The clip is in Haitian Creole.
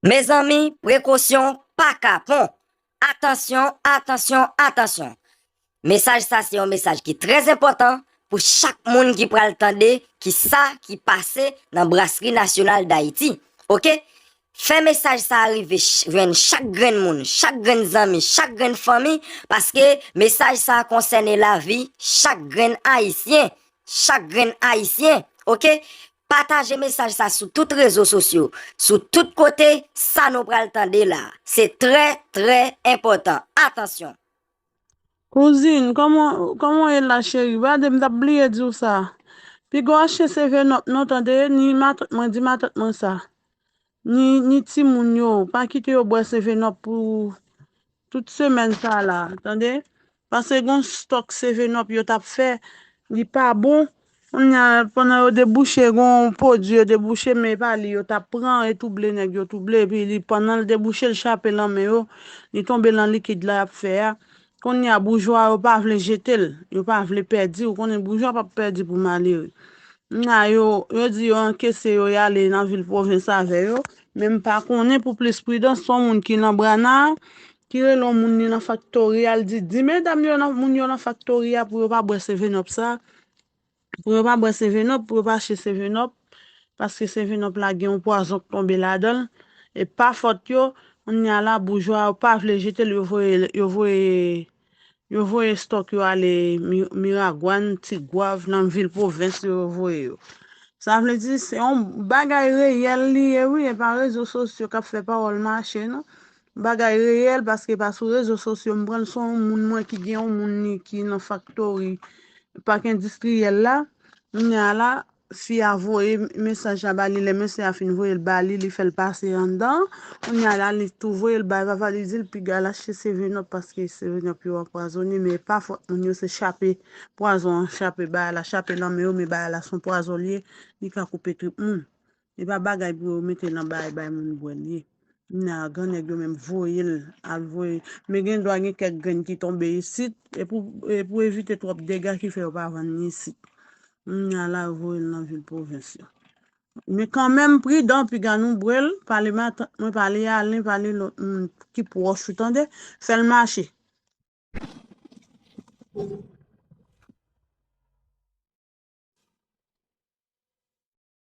Mezanmi prekosyon pa kapon! Atansyon, atansyon, atansyon! Mesaj sa se yon mesaj ki trè enpòtan pou chak moun ki pral tande ki sa ki pase nan Brasri Nasyonal Dayiti. Ok! Fè mesaj sa rive jwenn chak grenn moun, chak grenn zanmi, chak grenn fanmi paske mesaj sa konsène lavi chak grenn ayisyen, chak grenn ayisyen! Ok! Pataje mesaj sa sou tout rezo sosyo, sou tout kote, sa nou pral tande la, se trè, trè enpòtan. Atansyon! Kouzin, kòman, kòman w ye la cheri? Gade, m t ap bliye di w sa. Pigaw HCV non p non, tande, ni matant mwen, di matant mwen sa. Ni timoun yo, pa kite yo bwè seven up pou tout semèn sa la tande, pase gon stòk seven up yo tap fè li pa bon kounya pandan yo debouche gon pwodwi yo debouche men epa li yo tap pran e touble nèg yo touble epi li pandan li debouche li chape lan men yo li tonbe lan likid la yap fè a Konnya boujwa yo pa vle jetel, yo pa vle pèdi, ou konnen boujwa pap pèdi pou malere. Knnya yo, yo di yo ankese yo yale nan vil pwovens avè yo, men m pa konnen pou plis pridans son moun ki nan Brana a, ki rele on moun li nan faktori a, l di di medam yo nan moun yo nan faktori a pou yo pa bwè sevenòp sa, Pou yo pa bwè sevenop, pou yo pa achte sevenop, paske sevenop la gen yon pwazon k tonbe ladan l, e pa fòt yo, kounya la boujwa yo pa vle jete l yo voye yo voye yo voye stòk yo ale miragwàn, tigwav, nan vil pwovens yo yo voye yo. Sa vle di se yon bagay reyèl li ye wi e pa rezo sosyo k ap fè pawòl mache non. Bagay reyèl paske pa sou rezo sosyo m pran l son w moun mwen ki gen yon moun li ki nan faktori pak endistriyèl la kounya a la fi a voye mesaj la ba li lè mesye a fin voye l ba li li fè l pase anndan kounya a la li tou voye l bay vava li di l piga l achte seven up paske seven up yo anpwazone men e pa fòt moun yo se chape pwazon an chape bay a la chape nan men yo men bay a la son pwazon l ye li ka koupe trip moun. Epa bagay pou yo mete nan bay bay moun bwè li ye nan gran nèg yo menm voyel al voye men gen dwa gen kèk grenn ki tonbe isit epou evite twòp dega ki fè yo pa vann ni isit kounya la yo voyel nan vil pwovens yo men kanmenm pridan piga nou bwel pale matant mwen pale alen pale lòt moun ki pwòch ou tande fèl mache.